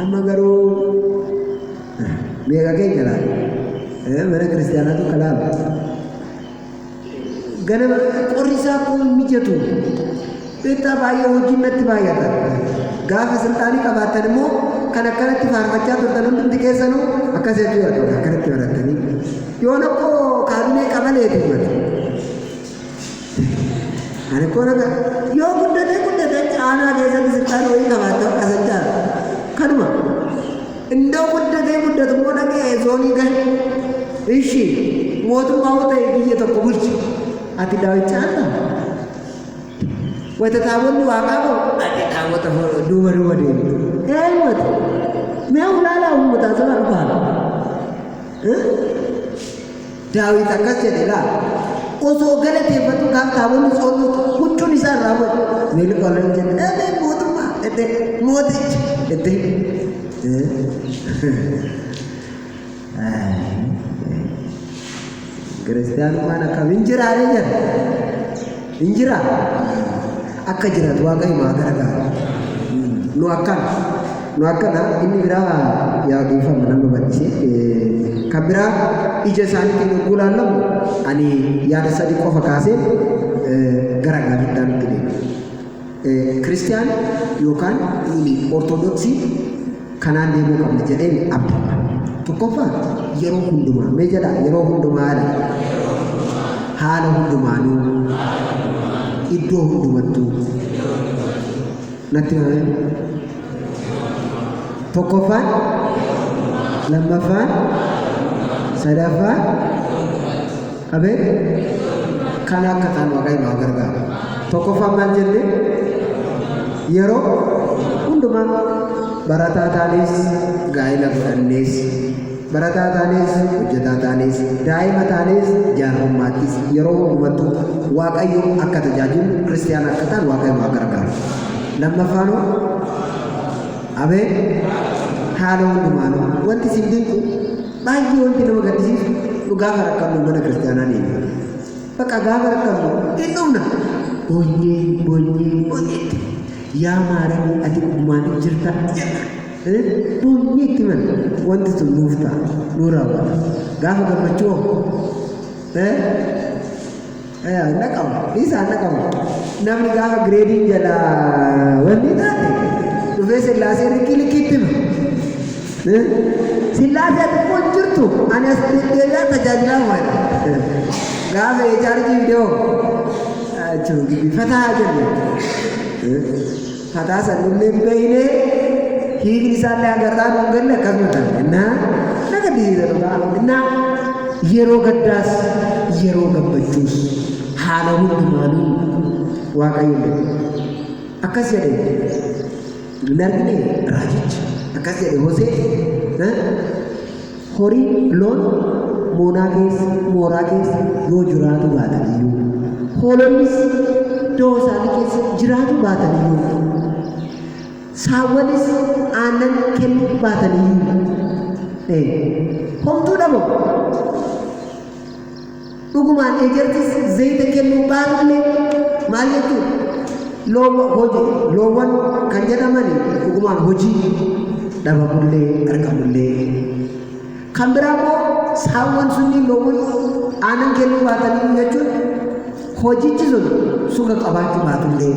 Amma garuu meeqa keenya laata? Eh, Mana kiristaanaatu kalaaba. Ganama qorri isaa koo hin mijatu. Beektaa baay'ee hojiin natti baay'ata. Gaafa silxaanii qabaattan immoo kan akkanatti faarfachaa turtan hundumti keessanuu akkas jechuu barbaada akkanatti barattanii. Yoo nakkoo kaabinee qabaleeti himata. Ani koo naga yoo guddatee guddatee aanaa keessatti sittaan horii qabaatte akka sachaan kanuma indoo guddatee guddatu immoo dhaqee zoonii gahe ishi mootummaa yoo ta'e biyya tokko bulchi ati daawwicha akka wayita taabonni waaqaa qabu ati daawwata duuba duuba deemu eenyuuti mee ulaalaa uummataa sana dhufaa Daawit akkas jedhe ilaali. Osoo galateeffatu kaan taabonni tsoolluutti huccuun isaa irraa bu'e. Miilli koo nan jedhe eebii mootummaa itti mootichi itti. Kiristiyaanummaan akkamiin jiraaree jedha. Hin jiraa? Akka jiraatu Waaqayyo nu haa gargaaru. Nu akkana. Nu akkana inni biraa yaa dhiifama nama bal'ise. Kan biraa ija isaaniitiin yogguu laallamu ani yaada sadii qofa kaasee gara gaaffiitti aanutti deema. Kiristiyaan yookaan nuuni Ortodoksii kanaan deemuu qabna jedheen abdanna. Tokkoffaa yeroo hundumaa mee jedhaa yeroo hundumaa jedhaa haala hundumaanuu iddoo hundumattuu natti himamee tokkoffaan lammaffaan sadaffaan Ameen. Kana akka taanu Waaqayyo nu haa gargaaru. Tokkoffaan maal jenne? Yeroo hundumaa barataa taanis gaa'ila godhannees barataa taanis hojjetaa taanis daa'ima taanis jaarrummaattis yeroo hundumattuu Waaqayyo akka tajaajilu kiristiyaana akka taanu Waaqayyo nu haa gargaaru. Lammaffaanoo Ameen. Haala hundumaanuu wanti isin dinqu Baay'ee wanti nama gaddisiisu dhugaa barakkannu mana kiristaanaa deemna. Bakka gaafa rakkannu hin dhumna. Booyyee booyyee booyyeetti. Yaa maaramii ati dhugumaan hin jirta jenna. Booyyeetti man wanti sun nuuf ta'a nuu raawwata. Gaafa gammachuu hoo? hin naqamu dhiisaa hin naqamu namni gaafa gireediin jala wanni taate dhufee sillaasee likkii likkiitti hima sillaasee xiqqoon jirtu ani as deddeebi'aa tajaajilaa waadha gaafa eechaarjii viidiyoo jechuun gibbifataa jenne Kataa san nullee hin beekne hiikni isaallee hanga irraa nu hin galle akkasuma kan innaa na gaddisiisa dhugaa innaa yeroo gaddaas yeroo gammachuus haala hundumaanuu waaqayyoon beeku. Akkas jedhe hin argine raajichi akkas jedhe Hosee Horii, loon, moonaa keessa, mooraa keessa, yoo jiraatu baatan iyyuu, hoolonnis da'oo isaanii keessa jiraatu baatan iyyuu, saawwanis aannan kennu baatan iyyuu, ee, homtuu dhabamu. Dhugumaan eejartis zayita kennuu baatullee maal jechuudha? Loowwa hoje loowwan kan jedhamani dhugumaan hojii dhabamullee argamullee. Kan biraa immoo saawwan sunniin loowwan aanan kennuu baatanii jechuun hojichi sun suga qabaachuu baatullee.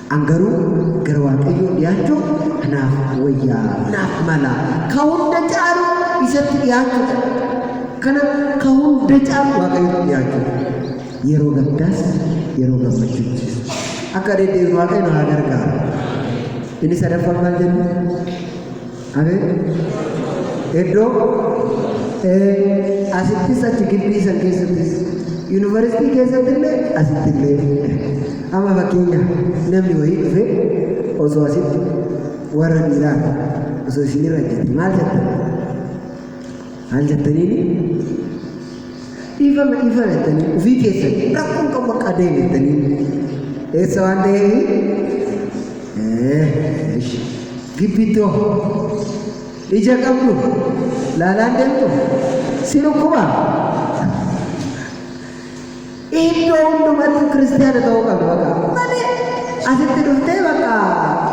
An garuu gara Waaqayyoo dhiyaachuuf anaaf wayyaa, naaf mala, ka hunda caalu isatti dhiyaachuu dha. Kana ka hunda caalu Waaqayyootti dhiyaachuu dha. Yeroo gaddaas yeroo gammachuuttis. Akka deddeebinu Waaqayyo nu haa gargaaru. Inni sadaffaan maal jenna? Amen. Iddoo eh, asittis achi gibbii san keessattis yuunivarsiitii keessatti illee asitti illee amma fakkeenya namni wayii dhufe osoo asitti warra dhiiraa osoo isinirra jette maal jette? Maan jettaniini? Dhiifama dhiifama jettanii ofii keessan rakkoon qabu akka adeemu jettanii eessa waan ta'eef gibbittoo ija qabdu laalaan deemtu si dhukkuba. Iddoo hundumatti kiristiyaana ta'uu qabna baqa malee asitti dhuftee baqa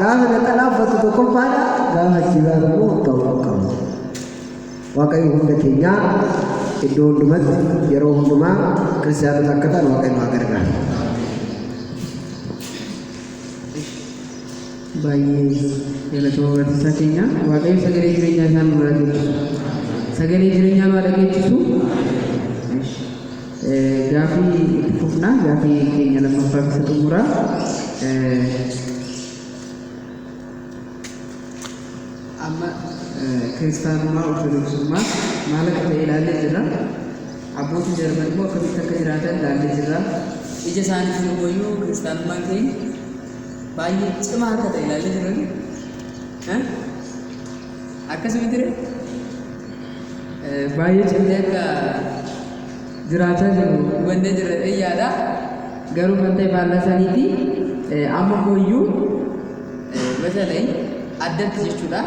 gaafa naxalaa uffatu tokkoffaadha gaafa jibaa immoo ta'uu qabna. Waaqayyo hunda keenyaa iddoo hundumatti yeroo hundumaa kiristaanota akka ta'an Waaqayyo haa gargaaru. baay'ee galatoomaa barsiisaa keenya waaqayyo sagalee jireenyaa isaan nu dhageessisu sagalee jireenyaa nu dhageessisu gaafii itti fufnaa gaafii keenya lammaffaa keessa xumuraa amma kiristaanummaa ortodoksummaa maal akka ta'e ilaallee jirra abbootiin jarman immoo akkamitti akka jiraatan ilaallee jirra ija isaaniitiin immoo iyyuu kiristaanummaan keenya baay'ee cimaa akka ta'e ilaallee jirran akkasuma jira baay'ee cimtee akka jiraachaa jiru hubannee jirra jedhee yaada. Garuu kan ta'e faallaa saniiti. Amma mooyyuu masalay addatti jechuudha.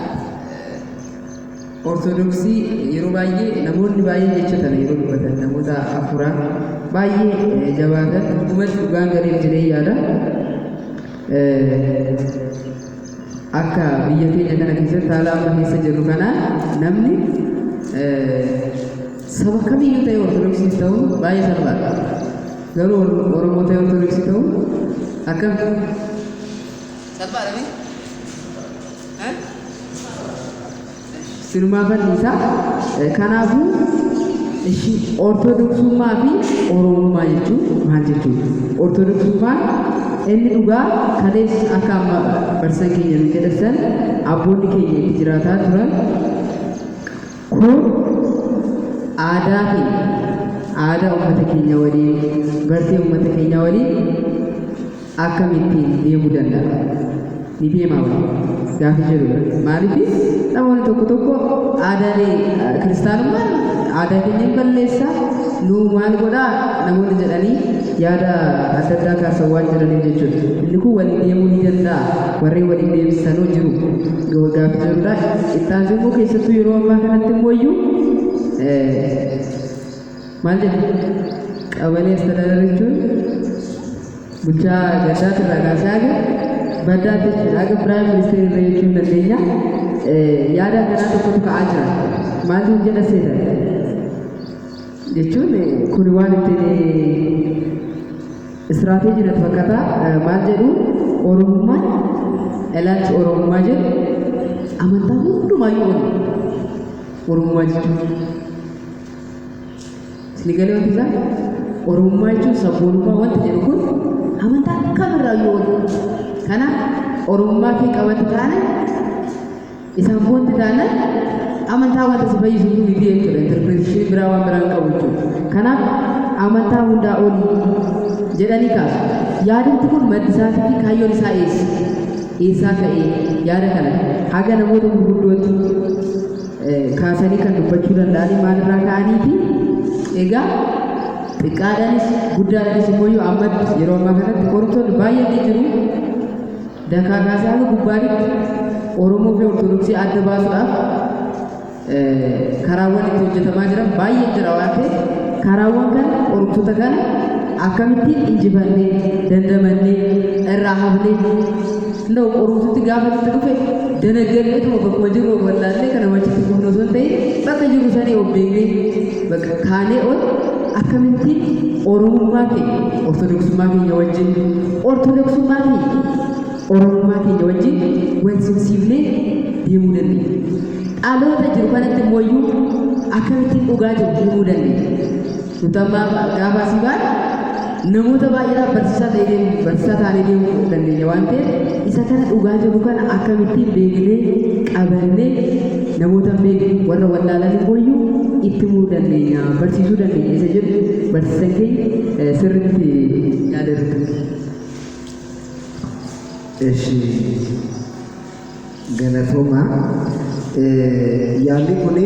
Ortodoksii yeroo baay'ee namoonni baay'een jecha tana yeroo dubbatan namoota afuraa baay'ee jabaatan dhugumatti dhugaan gariin jedhee yaada. Akka biyya keenya kana keessatti haala amma keessa jirru kanaan namni saba kamiyyuu ta'e ortodoksiis ta'uun baay'ee salphaadha. Garuu Oromoo ta'e ortodoksii ta'uun akkam salphaadha miti? Sinumaa bal'iisa. Kanaafuu ishi ortodoksummaa fi oromummaa jechuun maal jechuudha? Ortodoksummaan inni dhugaa kalees akka amma barsiisan keenya nu jedhassan abboonni keenya itti jiraataa turan kun aadaa keenya aadaa uummata keenya waliin bartee uummata keenya waliin akkamitti deemuu danda'a? Ni deemaa wayii? Gaaffii jedhu irratti. Maaliif namoonni tokko tokko aadaalee eh, kiristaanummaan aadaa keenya hin balleessa nu maal godhaa namoonni jedhanii yaada adda addaa kaasan waan jedhaniif jechuudha. Inni kun waliin deemuu ni danda'a. Warreen waliin deemsisanuu jiru. Gaaffii jedhudha. Itti aansee immoo keessattuu yeroo ammaa kanatti immoo iyyuu eh, Maal jedhu qabalee astadaadara jechuun bulchaa gaddaatti irraa kaasee haga baddaatti jechuudha. Haga piraayim ministeera irra jechuun dandeenya. Yaada akkanaa tokkotu ka'aa jira. Maatiin jedha seeta jechuun kuni waan ittiin istiraateejii natti fakkaata. Maal jedhu Oromummaan ilaalchi Oromummaa jedhu amantaa hundumaayyuu oli. Oromummaa jechuun. Isin galee wanti isaa Oromummaa jechuun sabboonummaa wanti jedhu kun amantaa kamirraa yoo wal kanaaf Oromummaa kee qabatti taana isaan foonti taana amantaa wanta si fayyisu kun miti jechuudha interpretation biraa waan biraan qabu jechuudha kanaaf amantaa hundaa olii jedhanii kaasu yaadatti kun maddi isaatii fi kaayyoon isaa eessa eessaa ka'ee yaada kana haga namoota gurguddootti kaasanii kan dubbachuu danda'anii maalirraa ka'aniiti. Egaa xiqqaadhaanis guddaadhaanis immoo yoo ammatti yeroo ammaa kanatti qortoonni baay'een ni jiru. Dakaa kaasee haga gubbaanitti Oromoo fi Ortodoksii adda baasuudhaaf karaawwan itti hojjetamaa jiran baay'ee jira waan ta'eef karaawwan kana qorumtoota kana akkamittiin injifannee dandamannee irraa hafnee Xinnoo qorumsitti gaafa nutti dhufe danaggadhee tuma bakkuma jirru of wallaallee kana wachitti gubnu osoo hin ta'in bakka jirru sanii of beeknee bakka kaanee ol akkamitti oromummaa keenya ortodoksummaa keenya wajjin ortodoksummaa keenya oromummaa keenya wajjin wal simsiifnee deemuu dandeenya. Dhaloota jiru kanatti immoo iyyuu akkamittiin dhugaa jiru himuu dandeenya. Kutammaa gaafaa si baan namoota baay'eedhaaf barsiisaa ta'ee deemu barsiisaa taanee deemuu dandeenya waan ta'eef isa kana dhugaa jiru kana akkamittiin beeknee qabannee namoota beeku warra wallaalan booyyuu itti muu dandeenya barsiisuu dandeenya isa jedhu barsiisan keenya sirriitti yaadatu. Eshi galatoomaa yaalli kuni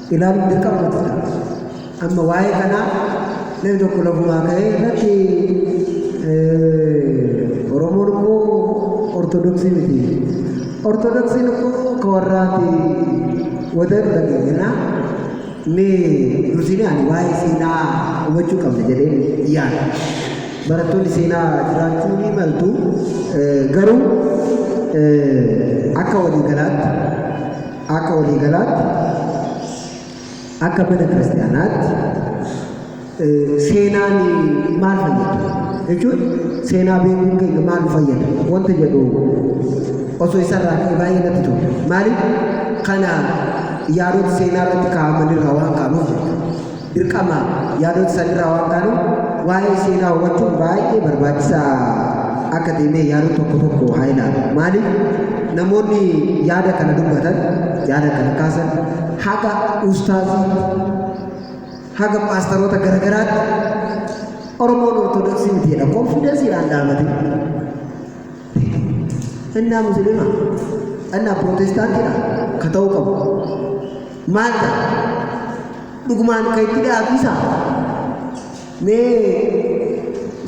ilaaluun dirqama nuti ta'a. Amma waa'ee kanaa namni tokko lafumaa ka'ee irratti Oromoon immoo Ortodoksii miti. Ortodoksiin immoo ka warraati wata jedhu dhageenya. Mee dursinee ani waa'ee seenaa hubachuu qabna jedheen yaada. Barattoonni seenaa jiraachuu ni maltu garuu akka waliigalaatti Akka waliigalaatti akka mana kiristaanaatti seenaan maal fayyada jechuun seenaa beekuun keenya maal nu fayyada wanta jedhu osoo isarraa ka'e baay'ee natti tolu. Maaliif kana yaadota seenaa irratti kaa'aman irraa waan kaa'amuuf jechuudha. dirqama yaadota san irraa waan kaanuuf waa'ee seenaa hubachuun baay'ee barbaachisaa akka ta'e mee yaadota tokko tokko haa ilaalu. Maaliif namoonni yaada kana dubbatan yaada kana kaasan haga ustaazii haga paastaroota garagaraatti Oromoon Ortodoksii miti jedha. Konfidensiidhaan dhaabate. Ennaa Musliima, ennaa Pirootestaantiidha ka ta'uu qabu. Maal ta'a? Dhugumaan kan itti dhiyaatu isa mee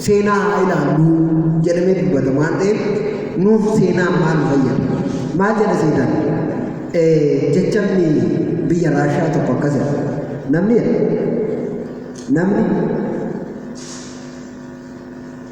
seenaa haa ilaallu jedhamee dubbata waan ta'eef nuuf seenaan maal fayyada? Maal jedha seenaan? Jechamni biyya Raashiyaa tokko akkas jedha. Namni jedha. Namni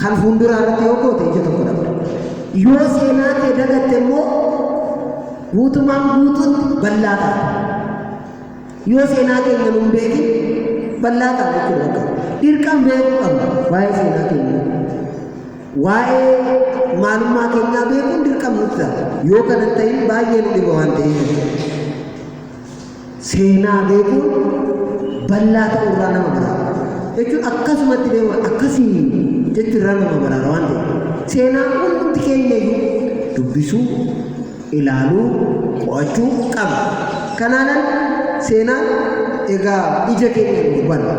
Kan fuulduraa irratti yoo goote ija tokko dhabda. Yoo seenaa kee dagatte immoo guutumaan guutuutti bal'aa taata. Yoo seenaa keenya nun beekin bal'aa taata jechuudha bakka. Dirqama beekuu qabna waa'ee seenaa keenya. Waa'ee maalummaa keenyaa beekuun dirqama nutti ta'a. Yoo kana ta'in baay'ee nu dhiba waan ta'eef. Seenaa beekuun bal'aa ta'uu irraa nama baraara. Jechuun akkasumatti beekuun akkasii jechuun irraa nama baraara waan ta'eef. Seenaa hundumti keenya iyyuu dubbisuu, ilaaluu, qo'achuu qabna. Kanaanan seenaa egaa ija keenya hin hubanne.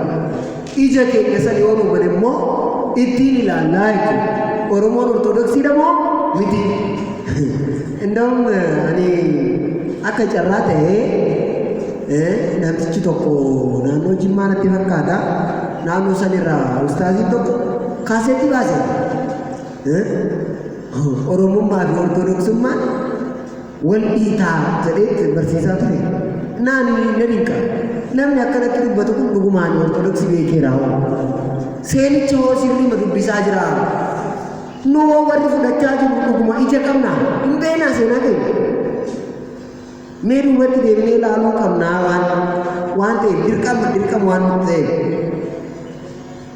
Ija keenya san yoo nu bane immoo ittiin ilaallaa jechuudha. Oromoon Ortodoksiidha moo miti? Indaa'um ani akka carraa ta'ee eh, namtichi tokko naannoo Jimmaa natti fakkaata. Naannoo sanirraa ustaaziin tokko kaaseetti baase. Eh, Oromummaa fi Ortodoksummaan Wal dhiitaa jedheet barsiisaa ture. Naani nan hinqa. Namni akkanatti dubbatu kun dhugumaan Ortodoksii beekeeraa hoo? Seenicha hoo sirriima dubbisaa jiraa? Nu hoo warri fudhachaa jiru dhuguma ija qabnaa? Hin beeknaa seenaa keenya. Mee duubatti deebinee ilaaluu qabnaa waan waan ta'eef dirqama dirqama waan nutti ta'eef.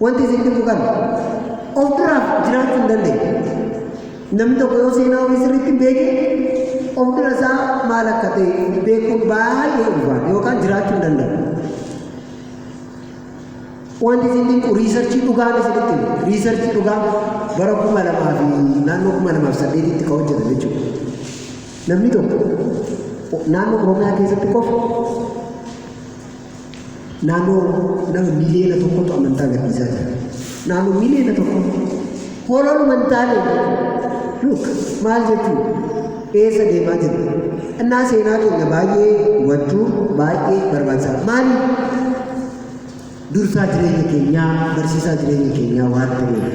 Wanti isin dhibu kana of duraaf jiraachuu hin dandeenye. Namni tokko yoo seenaa ofii sirriitti hin beekne of dura isaa maal akka ta'e beekuun baay'ee ulfaata yookaan jiraachuu hin danda'u. Wanti isin dhibu riisarchii dhugaan isinitti himu. Riisarchii dhugaa bara kuma lamaa fi naannoo kuma lamaa fi saddeetitti kan hojjetan jechuudha. Namni tokko naannoo Oromiyaa keessatti qofa Naannoo nama miliyoona tokkotu amantaa gadhiisaa jira. Naannoo miliyoona tokko hoololuma hin taane luuk maal jechuun eessa deemaa jiru. Innaa seenaa keenya baay'ee hubachuu baay'ee barbaachisaadha. Maaliif? Dursaa jireenya keenyaa, barsiisaa jireenya keenyaa waan ta'eef.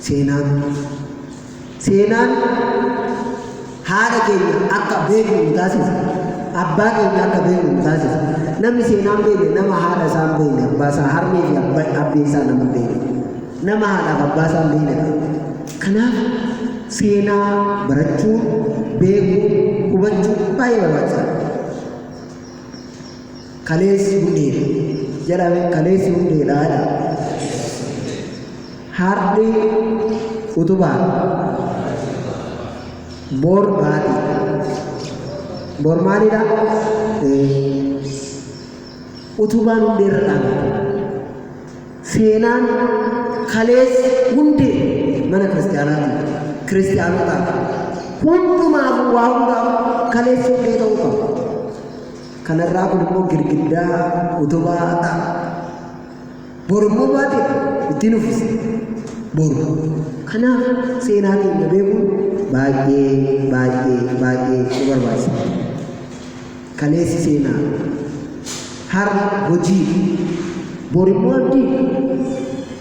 Seenaan Seenaan haadha keenya akka beeknu nu taasisa. Abbaa keenya akka beeknu nu taasisa. Namni seenaan beekne nama haadha isaa hin beekne, abbaa isaa, harmee fi abba- abbee isaa nama hin beekne. Nama haadhaaf abbaa isaa hin beekne ta'a. Kanaaf seenaa barachuu, beekuu, hubachuu baay'ee barbaachisaadha. Kaleessi hundeedha. Jedhame kaleessi hundeedha jedha. Har'i utubaadha. Bor baatiidha. Bor maalidha? Utubaan hundee irra dhaabata. Seenaan kaleessi hundee mana kiristaanaatiif, kiristaanotaaf, hundumaaf waa hundaaf kaleessi hundee ta'uu qaba. Kanarraa kun immoo girgiddaa utubaa ta'a. Bor immoo baatiidha. Ittiin uffisa. Bor. Kanaaf seenaa keenya beekuun baay'ee baay'ee baay'ee nu barbaachisa. Kaleessi seenaa. Har'a hojii. Bor immoo abdii.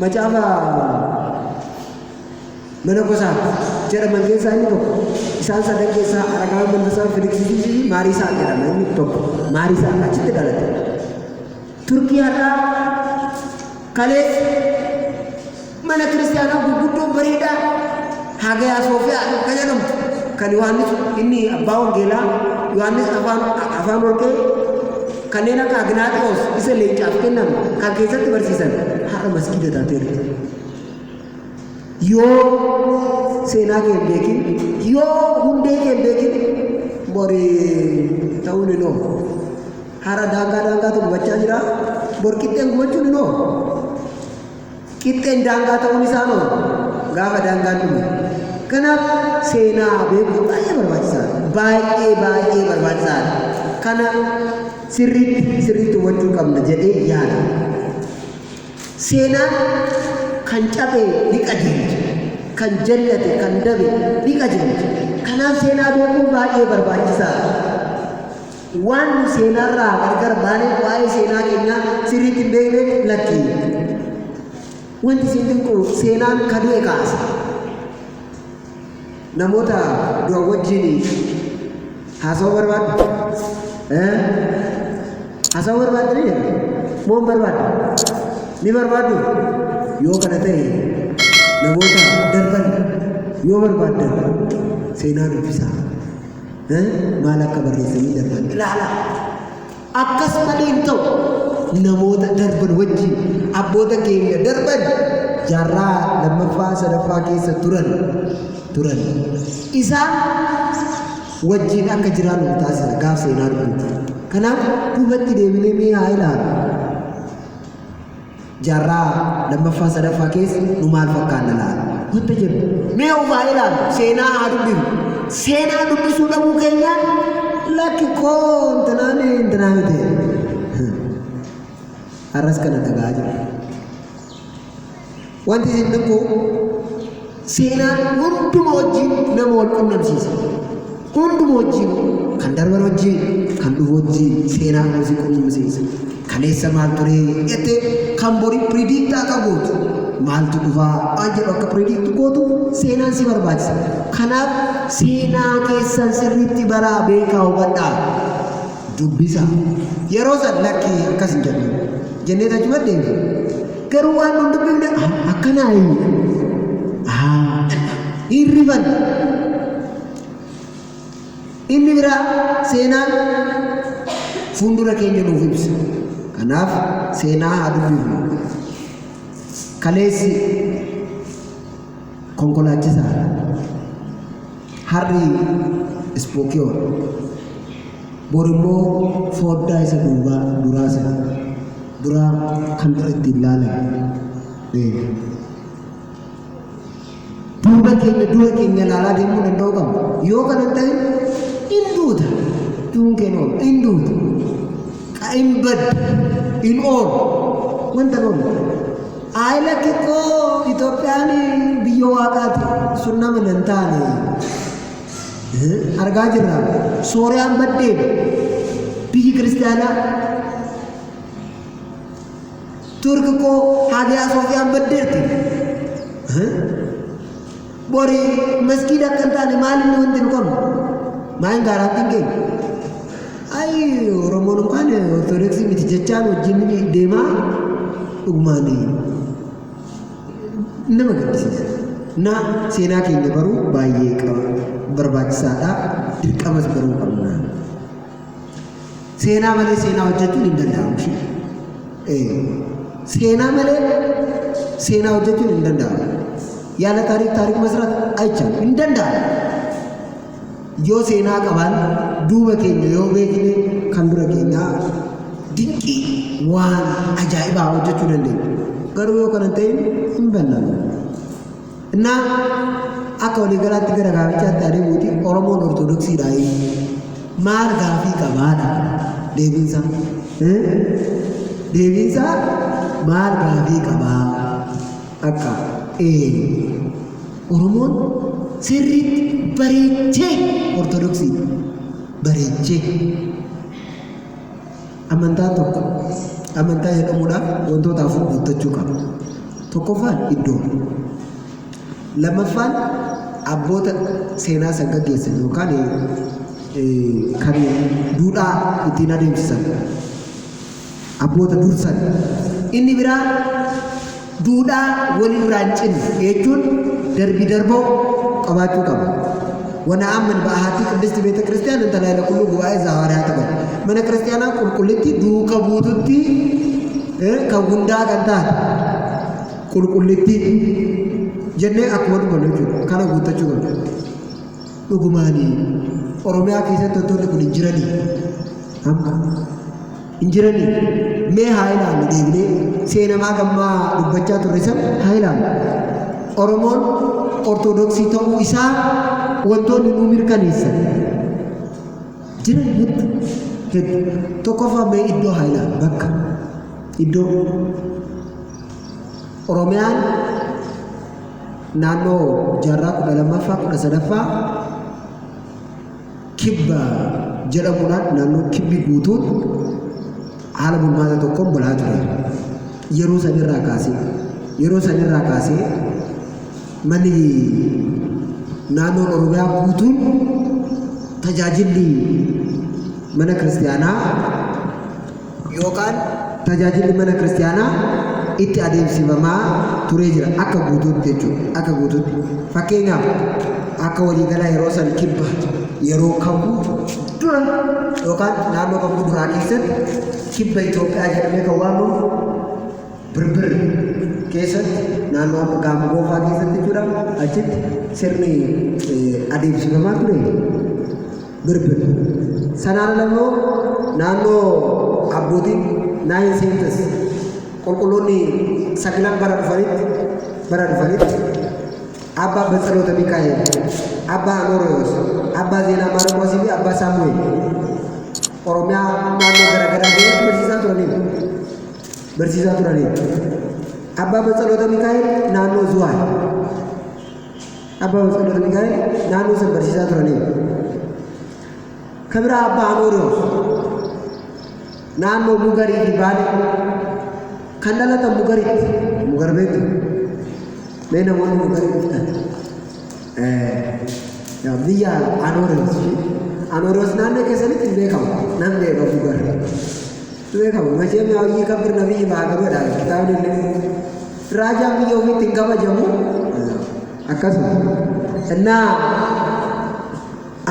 Macaafa mana gosaa jedhaman keessaa inni tokko. Isaan sadan keessaa Aragaawwan Mandasaa, Filiksiisii fi Maariisaa jedhama inni tokko. Maariisaa achitti dhalate. Turkii har'aa kalees mana kiristaanaa gurguddoo bareedaa Hagayaa Soofiyaa akka jedhamtu kan Yohaannis inni abbaa wangeelaa Yohaannis afaan afaan warqee Kanneen akka Agnaaxiyoos isa leencaaf kennamu kan keessatti barsiisan har'a masgiida taateerti. Yoo seenaa kee hin beekin, yoo hundee kee hin beekin bori ta'uun hin oolu. Har'a daangaa daangaatu gubachaa jira, bor qixxeen gubachuun hin oolu. Qixxeen daangaa ta'uun isaa hoo gaafa daangaan dhume. Kanaaf seenaa beekuun baay'ee barbaachisaadha. Baay'ee baay'ee barbaachisaadha. Kana sirriitti sirriitti hubachuu qabna jedhee yaada. Seenaan kan cabe ni qajeelcha. Kan jallate kan dabe ni qajeelcha. Kanaaf seenaa beekuun baay'ee barbaachisaadha. Waan nu seenaarraa gargar baaneef waa'ee seenaa keenyaa sirriitti hin beekneef lakki. Wanti isin dinqu seenaan ka du'e kaasa. Namoota du'an wajjin haasawuu barbaaddu? Eh? Haasawuu barbaaddu ni jedha. Moo hin barbaaddu? Ni barbaaddu? Yoo kana ta'e namoota darban yoo barbaaddan seenaa dubbisaa. maal akka barreessanii darban ilaala. Akkas malee hin ta'u namoota darban wajjin abboota keenya darban jaarraa lammaffaa sadaffaa keessa turan turan isaan wajjin akka jiraannu nu taasisa gaaf seenaa dhufuuti. Kanaaf duubatti deebinee mee haa ilaalu. Jaarraa lammaffaa sadaffaa keessa nu maal fakkaanna laata? Wanta jennu mee of haa ilaallu, seenaa haa dubbifnu. Seenaa dubbisuu dhabuu keenyaan lakki koo intinaan intinaa miti. Har'as kana dhaga'aa jirra. Wanti isin dinqu Seenaan hunduma wajjin nama wal qunnamsiisa. Hunduma wajjin kan darban wajjin kan dhufu wajjin seenaa nama si qunnamsiisa. Kaleessa maal turee jettee kan bori predict akka gootu maaltu dhufaa waan jedhu akka predict gootu seenaan si barbaachisa. Kanaaf seenaa keessan sirriitti baraa beekaa hubadhaa. Dubbisa. Yeroo san lakkii akkas hin jedhu. Jennee achumatti deemna. Garuu waan nun dubbifne akkanaa inni. Hin rifan. Inni biraa seenaan fuuldura keenya nuuf ibsa. Kanaaf seenaa haa dubbifnu. Kaleessi Konkolaachisaa harri ispookiyoon bor immoo fooddaa isa duubaa duraa isa duraa kan ittiin laalan eega. Duuba keenya dura keenya laalaa deemuu danda'uu qabna. Yoo kana hin ta'in hin duuta. Duun keenya oolu hin duuta. Ka hin baddu hin oolu. Wanta hin oolu. Ayi lakki koo Itoophiyaan biyya waaqaati sun nama nan taane argaa jirra sooriyaan baddeen biyyi kiristaanaa turki koo haagiyaa soofiyaan baddeerti bori masgiida akka hin taane maal inni wanti nu qabnu maa hin gaaraattiin keenya ayi oromoon yookaan ortodoksii miti jechaan wajjin deemaa dhugumaan nama gaddisiisa na seenaa keenya baruu baay'ee qaba barbaachisaadha dirqamas baruu qabna. Seenaa malee seenaa hojjechuun hin danda'amu. ishee. Ee, Seenaa malee seenaa hojjechuun hin danda'amu. Yaala taariik taariik masraat ayichan hin danda'amu. Yoo seenaa qabaan duuba keenya yoo beekne kan dura keenyaa dinqii waan ajaa'ibaa hojjechuu dandeenya. Garuu yoo kana hin ta'in hin bannamu. Innaa akka waliigalaatti gara gaafichaatti adeemuuti Oromoon Ortodoksiidha maal gaafii qabaadha deebiinsaa deebiinsaa maal gaafii qabaa akka ee Oromoon sirriitti bareechee Ortodoksii bareechee Amantaan tokko amantaa jedhamuudhaaf wantoota afur guuttachuu qaba. Tokkoffaan iddoo. Lammaffaan abboota seenaa san gaggeessan yookaan kan duudhaa ittiin adeemsisan abboota dursan. Inni biraa Duudhaa wal irraa hin cinne jechuun darbii darboo qabaachuu qaba. Wana'aamman ba'ahaatii qiddisti beeta kiristiyaana inta laayila qulluu gubaa'ee izaa hawaariyaa taban. Mana kiristiyaanaa qulqullitti duuka buututti kan hundaa kan taate qulqullitti jennee akkuma dubbannu jechuudha. Kana guuttachuu qabna. Dhugumaanii Oromiyaa keessatti wantoonni kun hin jiranii amma. hin jiranii? Mee haa ilaallu deebinee seenamaa gammaa dubbachaa turre san haa ilaallu. Oromoon Ortodoksii ta'uu isaa wantoonni nuu mirkaneessan jiran heddu heddu. Tokkoffaa mee iddoo haa ilaallu bakka iddoo Oromiyaan naannoo jaarraa kudha lammaffaa kudha sadaffaa Kibba jedhamuudhaan naannoon kibbi guutuun haala bulmaata tokkoon bulaa ture. Yeroo sanirraa kaasee yeroo sanirraa kaasee manni naannoon Oromiyaa guutuun tajaajilli mana kiristaanaa yookaan tajaajilli mana kiristiyaanaa itti adeemsifamaa turee jira akka guutuutti jechuudha akka guutuutti fakkeenyaaf akka waliigalaa yeroo san kibba yeroo kakuu dura yookaan naannoo kakuu duraa keessatti kibba Itoophiyaa jedhamee kan waamamu birbir keessatti naannoo amma gaama goofaa keessatti jechuudha achitti sirni eh, adeemsifamaa ture birbir. Sanaan ala immoo naannoo abbootiin naayin seentas qulqulloonni sagilan bara dhufanitti bara dhufanitti abbaa Batsaloota Mikaa'el, abbaa Anooriyoos, abbaa Zeenaa Maarqoosii fi abbaa Saamu'eel Oromiyaa naannoo garaagaraa deemuun barsiisaa turaniiru. Barsiisaa turaniiru. Abbaa Batsaloota Mikaa'el naannoo Zuwaay Abbaa Walfaqir Mikaa'el naannoo san barsiisaa turaniiru. Ka biraa Abbaa Amooriyoos naannoo Mugarii fi Baalee kan dhalatan Mugaritti Mugar beektu mee namoonni Mugarii dhuftan biyya Amooriyoos fi Amooriyoos naannoo keessanitti hin beekamu namni eega Mugar Beekamu macheen hojii kabir nabii baa qabadha kitaabni illee raajaan biyya ofiitti hin kabajamu akkasuma innaa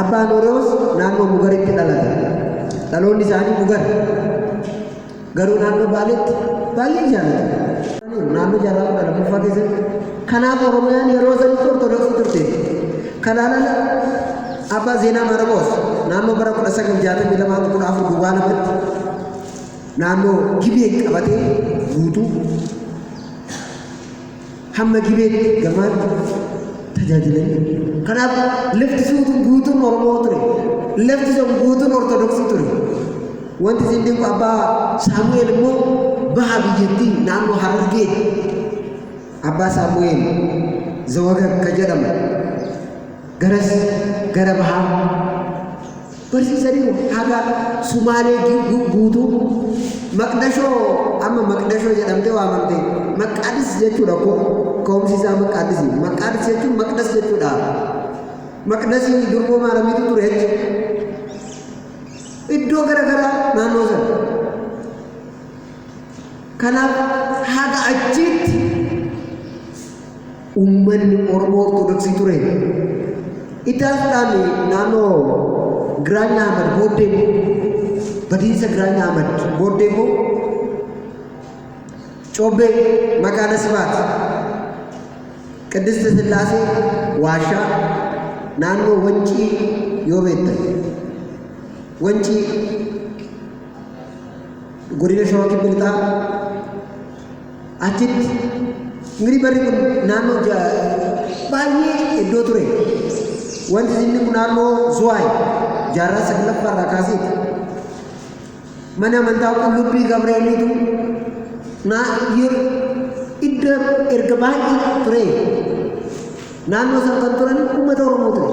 abbaan Oroos naannoo Mugaritti dhalate dhaloonni isaanii Mugar garuu naannoo Baaleetti baay'ee jaalatu naannoo jaarraa kudha lammaffaa keessatti kanaaf Oromiyaan yeroo sanitti Ortodoksii turte Kanaan ala Abbaa Zeenaa Maaraqoos naannoo bara 1962 hanga 14 duwwaa lamatti naannoo Gibee qabatee guutuu hamma Gibeetti gamaatti tajaajilanii kanaaf lafti suutuun guutuun Oromoo ture lafti sun guutuun Ortodoksii ture wanti isin dinqu abbaa Saamu'eel immoo baha biyyattii naannoo Harargee Abbaa Saamu'eel Zawagag ka jedhaman garas gara bahaa barsiisaniiru haga Sumaalee gi- gu- guutuu Maqdashoo amma Maqdashoo jedhamtee waamamte Maqaadis jechuudha ko ka'umsi isaa Maqaadisi Maqaadis jechuun Maqdas jechuudha Maqdasii durboo maaramiitu ture jechuudha iddoo gara garaa naannoo sana Kanaaf haga achiitti ummanni Oromoo Ortodoksii ture. Itaasdhaan naannoo Giraanya Ahmad booddee immoo badiinsa Giraanya Ahmad booddee immoo Cobbee Makaana Sibaat Qiddist Sillaasee Waashaa naannoo Wancii yoo beektan Wancii Godina Shawaa Kibba Lixaa achitti miri barri kun naannoo baay'ee iddoo ture. Wanti inni kun naannoo Zuwaay jaarraa saglaffaa irraa kaasee mana amantaa qullubbii Gabreeliitu naa iddoo erga baay'ee ture. Naannoo sana kan turan uummata Oromoo ture.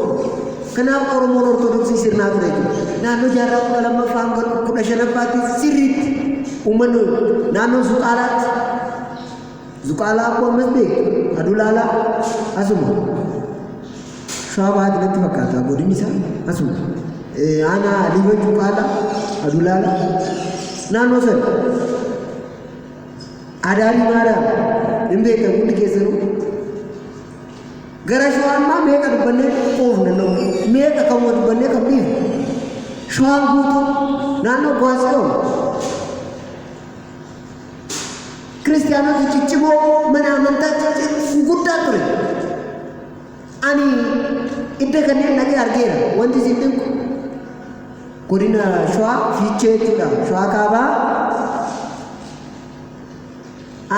Kanaaf Oromoon Ortodoksii sirnaa ture jechuudha. Naannoo jaarraa kudha lammaffaa hanga kudha shanaffaatti sirriitti uummanni naannoo Zuqaalaatti Zuqaalaa akkoo ammas beeku Adulaalaa asuma shawaa bahaatti natti fakkaata godinni isaa asuma aanaa Liiban Zuqaalaa Adulaalaa naannoo sana Adaarii Maariyaam hin beektan hundi keessanuu. Gara shawaa ammaa meeqa dubbannee quufu danda'u? Meeqa kan wa dubbannee kan dhiifu? Shawaan guutuu naannoo Gwaasiyoon kiristiyaanota ciccimoo mana amantaa cicci- guddaa ture. Ani idda kanneen dhaqee argeera. Wanti isin dinqu godina Shawaa Fiichee jechuudha. Shawaa Kaabaa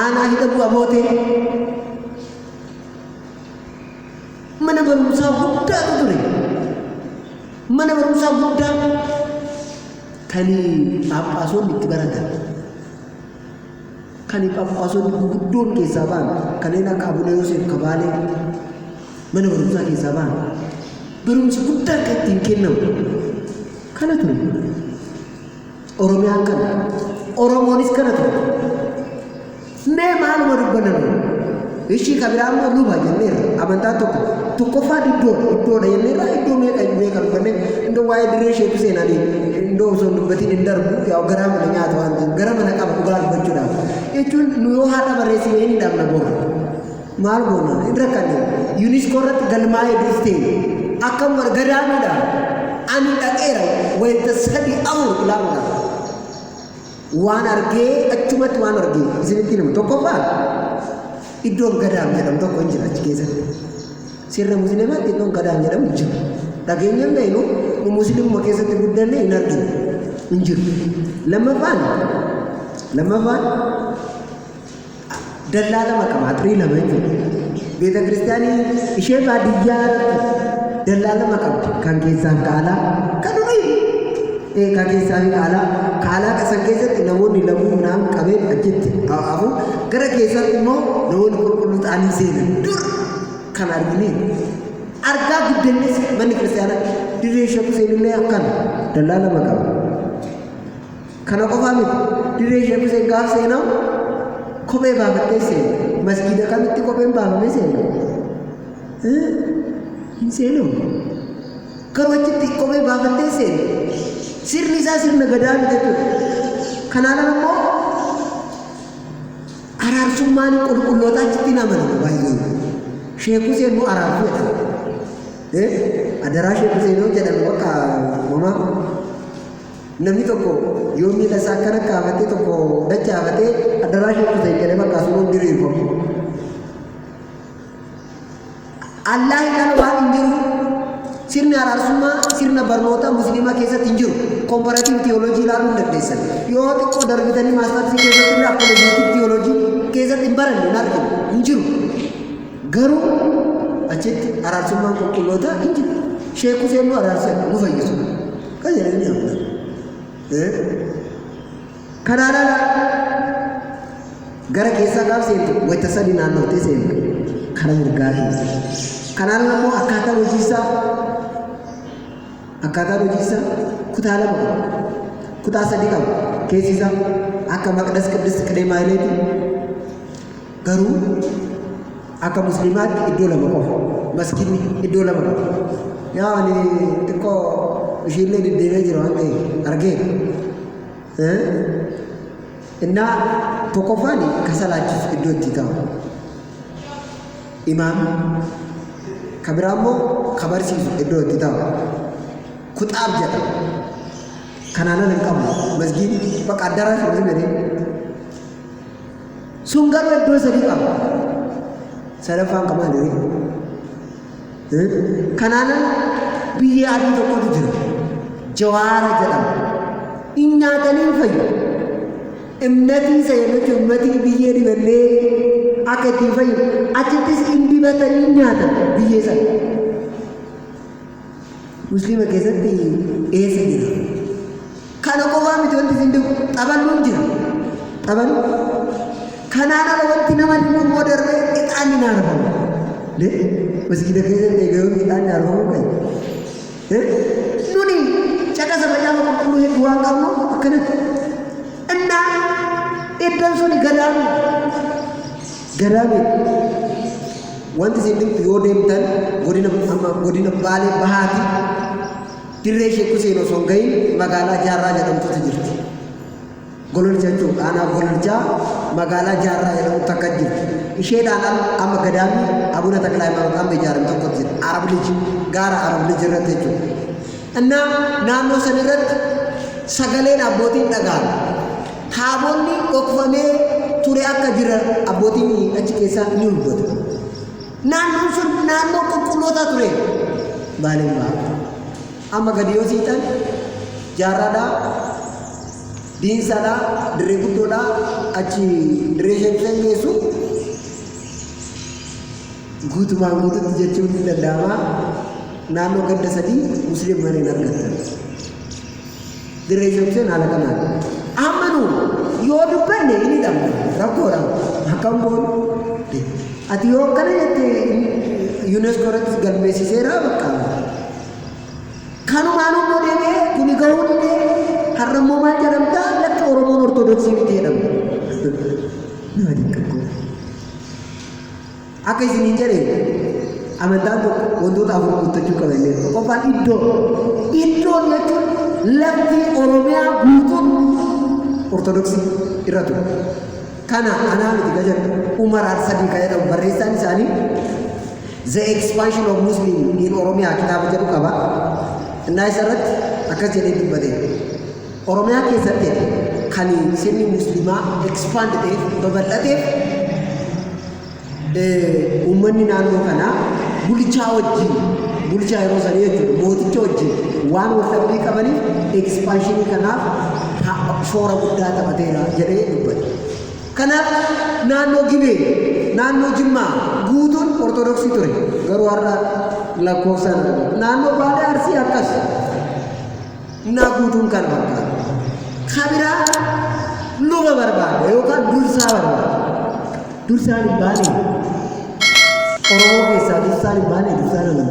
aanaa hidha bu'a bootee mana barumsaa guddaatu ture. Mana barumsaa guddaa kan phaaphaasonni itti baratan. Kani Phaaphaasonni guguddoon keessaa ba'an kanneen akka Abuna Yooseef ka Baalee mana barumsaa keessaa ba'an barumsi guddaa akka ittiin kennamu kana ture. Oromiyaan kana. Oromoonis kana ture. Mee maaluma dubbaname? Ishii ka biraa immoo luba jenneerra. Amantaan tokko tokkoffaa iddoodha. Iddoodha jenneerra iddoo meeqa hin beekan uffanne iddoo waa'ee dirree isheetu seenanii iddoo osoo hin dubbatiin hin darbu yaa garaa mana nyaata waan ta'eef gara mana qaba dhugaa dubbachuudhaaf. Jechuun nu yoo haadha barreessine hin hidhamna boora. Maal goona? Hin rakkanne. Yuuniskoo irratti galmaa'ee duftee akkam godha gadaamiidha. Ani dhaqeera wayita sadii afur ilaaluudhaaf. Waan argee achumatti waan argee isinitti himu tokkoffaa iddoon gadaam jedhamu tokko hin jira achi keessatti. Sirna musliimaatti iddoon gadaam jedhamu hin jiru. Dhageenya hin beeknu nu musliimuma keessatti guddanne hin arginu hin jiru. Lammaffaan lammaffaan dallaa lama qaba atirii lama jechuudha beeta kiristaanii ishee baadiyyaa dallaa lama qabdi kan keessaan kaalaa kan durii ee kan keessaan kaalaa kaalaa kasan keessatti namoonni laguu naan qabee achitti hafu gara keessatti immoo namoonni qulqulluu ta'anii seenan dur kan arginee argaa guddannis manni kiristaanaa dirree ishee kuseenillee akkana dallaa lama qaba. Kana qofaa miti dirree Sheek Huseen gaaf seenaa kophee baafattee seena. Masgiida kamitti kopheen baafamee seena? Hin seenamu. Garuu achitti kophee baafattee seena. Sirni isaa sirna gadaa miti jechuudha. Kanaan ala immoo araarsummaan qulqullootaa achitti hin amanamu baay'ee. Sheek Huseen immoo araarsu jedhama. Adaraa Sheek Huseen yoo jedhamu bakka homaa Namni tokko yoo miila isaa akkana kaafatee tokko dachaafatee addaraashii kuteen jedhee bakka asuun diriirfamu. Allaa hin ala waan hin jiru sirni araarsummaa sirna barnootaa musliimaa keessatti hin jiru. Komparaatiiv tiyooloojii ilaaluu hin dandeessan. Yoo xiqqoo darbitanii maastarsii keessatti illee apologeetik tiyooloojii keessatti hin baranne hin argine hin jiru. Garuu achitti araarsummaan qulqullootaa hin jiru. Sheek Huseen nu araarsan nu fayyisu. Kan jedhanii ni amanu. Eh? Kanaan ala gara keessaa gaaf seentu wayita sadii naannoftee seentu kara mirgaa keessa. Kanaan ala immoo akkaataa hojiisaa akkaataa hojiisaa kutaa lama qaba. Kutaa sadii qaba. Keessi isaa akka maqdas qiddis qidee maayileetii Garuu akka musliimaatti iddoo lama qofa. Maskiinni iddoo lama qofa. Yaa ani xiqqoo ishiillee deddeebi'ee jira waan ta'eef argee. Innaa tokkoffaan ka salaachisu iddoo itti ta'u. Imaam ka biraa immoo ka barsiisu iddoo itti ta'u. Kuxaab jedha. Kanaan ala hin qabu. Masgiin bakka addaraa hin jedhee. Sun garuu iddoo sadii qaba. Sadaffaan kan maali? Eh? Kanaan ala biyyee adii tokkotu jira. Jawaara jedhama. In nyaatanii fayyu. Imnatii isa yeroo jechuun imnatii biyyee dibannee akka ittiin fayyu achittis in dibatanii nyaatan biyyee sana. Musliima keessatti eessa jira? Kana qofaa miti wanti isin dhibu xaballuun jira. Xabalu kanaan ala wanti nama dhibu immoo darbee ixaanni ni aarfamu. Lee masgiida keessatti egaa yoom ixaanni aarfamu kan nuni caqasa macaafa qulqulluu hedduu waan qabnu akkanatti. Innaa iddoon suni gadaamuu Ganaa miti. Wanti isin dhibtu yoo deemtan godina amma godina Baalee Bahaati dirree Sheek Huseen osoo hin gahin magaalaa Jaarraa jedhamtutu jirti. Gololcha jechuudha. Aanaa Gololchaa magaalaa Jaarraa jedhamu takka jirti. Isheedhaan al amma gadaamni Abuna Taklaa Haayimaanoot amma ijaarame tokkotu jira. Arab Lij gaara Arab Lij irratti jechuudha. Ennaa naannoo san irratti sagaleen abbootiin dhaga'ame. Taabonni dhokfamee ture akka jira abbootiin achi keessaa ni hubatu. Naannoon sun naannoo qulqullootaa ture. Baaleen ba'a. Amma gadi yoo siixan jaarraadhaa, diinsaadhaa, dirree guddoodhaa achi dirree sheekisan geessu Guutumaan guututti jechuun ni danda'ama naannoo ganda sadii Musliim mana hin argattan. Dirree Joobseen haala kanaan. Amma nu yoo dubbanne hin hidhamne rakkoodha. Akkam goonu? Ati yoo akkana jette UNESCO irratti galmeessiseera bakka. Kanumaan immoo deemee kuni gahuu didee har'a immoo maal jedhamta lakki Oromoon Ortodoksii miti jedhamta. Nama dinqaqqoo. Akka isiniin jedhe amantaan tokko wantoota afur guuttachuu qaba illee tokkoffaan iddoo iddoo jechuun lafti oromiyaa guutuun ortodoksii irra ture kana anaa miti ka jedhu umar arsadii ka jedhamu barreessaan isaanii the expansion of muslim in oromiyaa kitaaba jedhu qaba innaa isa irratti akkas jedhee dubbate Oromiyaa keessatti kan sirni musliimaa expand ta'eef babal'ateef uummanni naannoo kanaa bulchaa wajjin bulchaa yeroo sanii jechuudha mooticha wajjin waan wal dhabbii qabaniif ekspanshinii kanaaf shoora guddaa taphateera jedhee dubbate. Kanaaf naannoo Gibee, naannoo Jimmaa guutuun Ortodoksii ture. Garuu har'a lakkoofsaan naannoo Baalee Arsii akkas. Innaa guutuun kana fakkaata. Ka biraa luba barbaada yookaan dursaa barbaada. Dursaan hin baanee? Oromoo keessaa dursaan hin baanee? Dursaan amantaa?